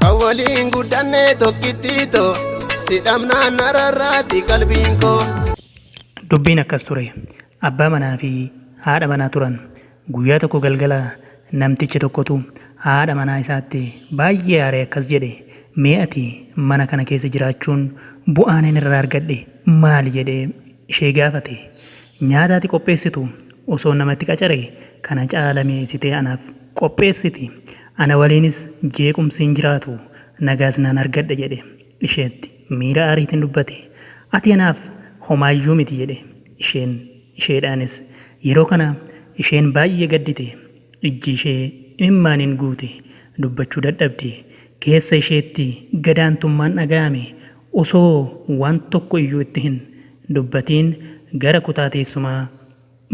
Kan waliin guddanne tokkittii too si dhabnaan nararraati qalbiin koo. Dubbiin akkas ture. Abbaa manaa fi haadha manaa turan. Guyyaa tokko galgala namticha tokkotu haadha manaa isaatti baay'ee aaree akkas jedhe, Mee ati mana kana keessa jiraachuun bu'aan ani irraa argadhe maali? jedhee ishee gaafate. Nyaata ati qopheessitu osoon nama itti qacare kana caala mi'eessitee anaaf qopheessiti. Ana waliinis jeequmsi hin jiraatu, nagaas nan argadha jedhe. Isheetti miira aariitiin dubbate. Ati anaaf homaayyuu miti jedhe. Isheen isheedhaanis. Yeroo kana isheen baay'ee gaddite. Ijji ishee imimmaaniin guute. Dubbachuu dadhabde. Keessa isheetti gadaantummaan dhaga'ame. Osoo waan tokko iyyuu itti hin dubbatiin gara kutaa teessumaa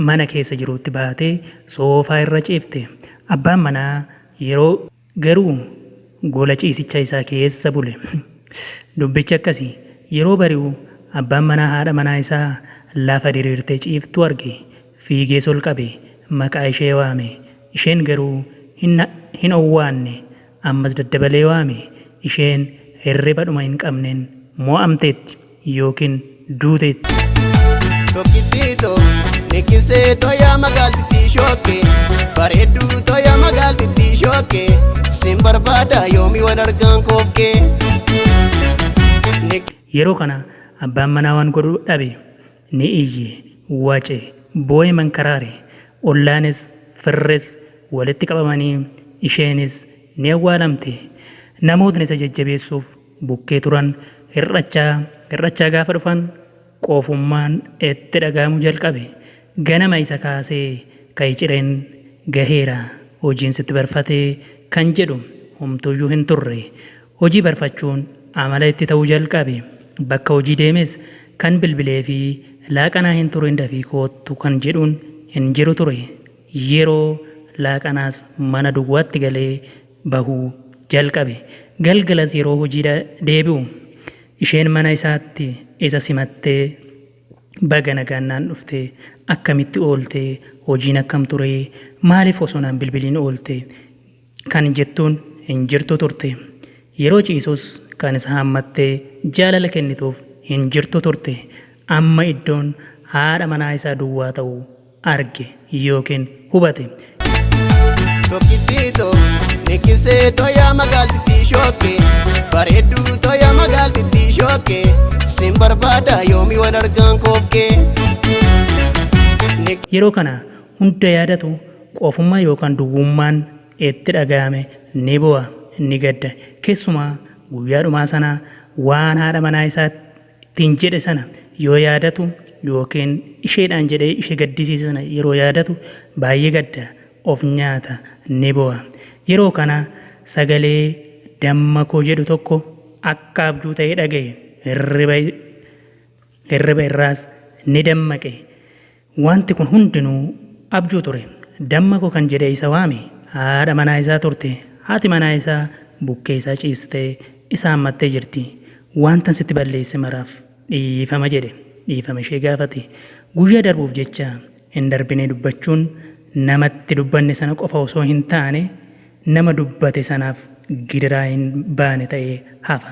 mana keessa jiruutti baatee soofaa irra ciifte. Abbaan manaa yeroo garuu gola ciisicha isaa keessa bule. Dubbichi akkasi. Yeroo bari'u abbaan manaa haadha manaa isaa lafa diriirtee ciiftu arge. Fiigees ol qabe. Maqaa ishee waame. Isheen garuu hin hin owwaanne. ammas daddabalee waame, isheen hirriba dhuma hin qabneen mo'amteetti ykn duuteetti. Tokkittii too, nikkisee too yaa magaaltittii shookkee Bareedduu too yaa magaaltittii shookkee Sin barbaada yoomi wal argaan kookkee Yeroo kana abbaan manaa waan godhu dhabe. Ni iyye, wace, boo'e mankaraare. Ollaanis, firris walitti qabamanii isheenis ni awwaalamte. Namootni isa jajjabeessuuf bukkee turan hir'achaa hir'achaa gaafa dhufan qofummaan itti dhaga'amuu jalqabe. Ganama isa kaasee ka'i cireen gaheera hojiin sitti barfatee kan jedhu homtuuyyuu hin turre. Hojii barfachuun amala itti ta'uu jalqabe. Bakka hojii deemes kan bilbileefi laaqanaa hin turin dafii koottu kan jedhuun hin jiru ture. Yeroo laaqanaas mana duwwaatti galee bahuu jalqabe. Galgalas yeroo hojiidha deebi'u isheen mana isaatti isa simattee baga nagaan naan dhufte, akkamitti oolte, hojiin akkam ture, maaliif osoo naan bilbiliin oolte, kan jettuun hin jirtu turte. Yeroo ciisus kan isa hammattee jaalala kennituuf hin jirtu turte. Amma iddoon haadha manaa isaa duwwaa ta'u arge ykn hubate. Tokkittii too nikkisee toya magaaltittii shookkee bareedduu toya magaaltittii shookkee sin barbaada yoomi wal argaan koofkee. Yeroo kana hunda yaadatu Qofummaa yookaan duwwummaan itti dhaga'ame. Ni boo'a, ni gadda. Keessumaa guyyaa dhumaa sana waan haadha manaa isaa ittiin jedhe sana yoo yaadatu yookiin isheedhaan jedhee ishee gaddisiise sana yeroo yaadatu baay'ee gadda, of nyaata, ni boo'a. Yeroo kana sagalee damma koo jedhu tokko akka abjuu ta'ee dhaga'e. Hirriba irraas ni dammaqe. Wanti kun hundinuu abjuu ture. Damma koo kan jedhee isa waame haadha manaa isaa turte. Haati manaa isaa bukkee isaa ciistee isa hammattee jirti. Wantan sitti balleesse maraaf dhiifama jedhe. Dhiifama ishee gaafate. Guyyaa darbuuf jecha hin darbinee dubbachuun namatti dubbanne sana qofa osoo hin taane nama dubbate sanaaf gidiraa hin baane ta'ee hafa.